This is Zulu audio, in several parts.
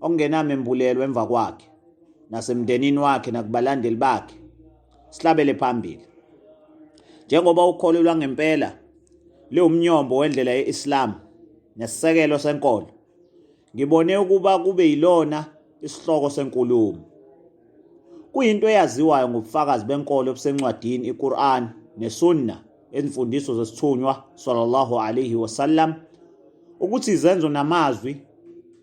okungenamembulelo emva kwakhe nasemndenini wakhe nakubalandeli bakhe sihlabele phambili njengoba ukholelwa ngempela liwumnyombo wendlela ye-Islam nesisekelo senkolo ngibone ukuba kube yilona isihloko senkulumo kuyinto eyaziwayo ngobufakazi benkolo obusencwadini iQur'an neSunna ezimfundiso zesithunywa sallallahu alayhi wasallam ukuthi izenzo namazwi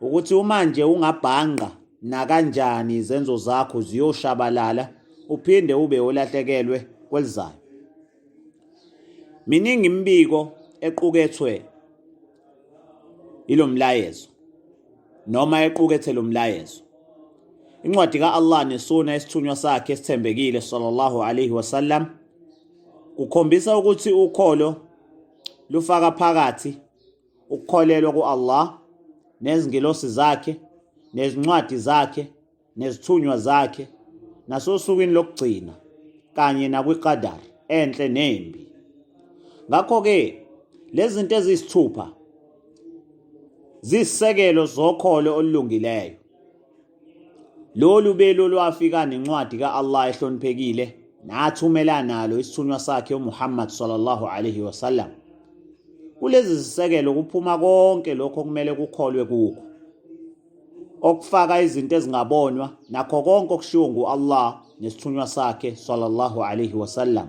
ukuthi uma nje ungabhanqa nakanjani izenzo zakho ziyoshabalala uphinde ube olahlekelwe kwelizayo miningi imibiko equkethwe ilomlayezo noma equkethe lomlayezo incwadi ka-Allah nesuna esithunywa sakhe esithembekile sallallahu alayhi wasallam kukhombisa ukuthi ukholo lufaka phakathi ukukholelwa ku-Allah nezingelosi zakhe nezincwadi zakhe nezithunywa zakhe nasosukwini lokugcina kanye nakwiqadar enhle nembi ngakho-ke lezi zinto eziyisithupha ziyisisekelo zokholo olulungileyo Lolu belo lwafika nencwadi ka-Allah ehloniphekile nathumela nalo isithunywa sakhe uMuhammad sallallahu alaihi wasallam. Kulezi zisekelo kuphuma konke lokho okumele kukholwe kukho. Okufaka izinto ezingabonwa nakho konke okushiwo ngu-Allah nesithunywa sakhe sallallahu alaihi wasallam.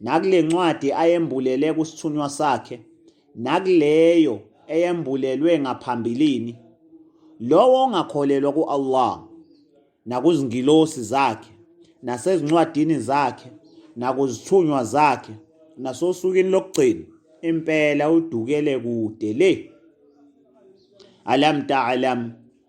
Nakule ncwadi ayembulele kusithunywa sakhe, nakuleyo eyembulelwe ngaphambilini, lowo ongakholelwa ku-Allah nakuzingilosi zakhe nasezincwadini zakhe nakuzithunywa zakhe nasosukwini lokugcina impela udukele kude le alam ta'lam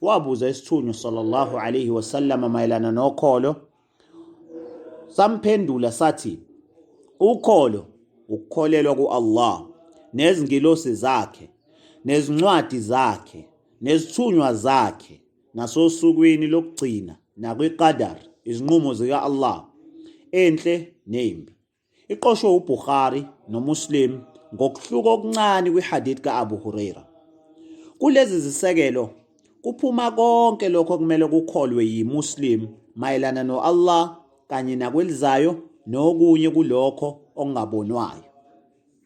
wabuza isithunywa sallallahu alayhi wasallam mayelana nokholo samphendula sathi ukholo ukukholelwa kuAllah nezingilosi zakhe nezincwadi zakhe nezithunywa zakhe nasosukwini lokugcina nakwiqadar izinqumo zika-Allah enhle nembi Iqoshwe uBukhari noMuslim ngokuhluka okuncane kwiHadith ka-Abu Huraira. Kulezi zisekelo kuphuma konke lokho okumele kukholwe yiMuslim mayelana no-Allah kanye nakwelizayo nokunye kulokho okungabonwayo.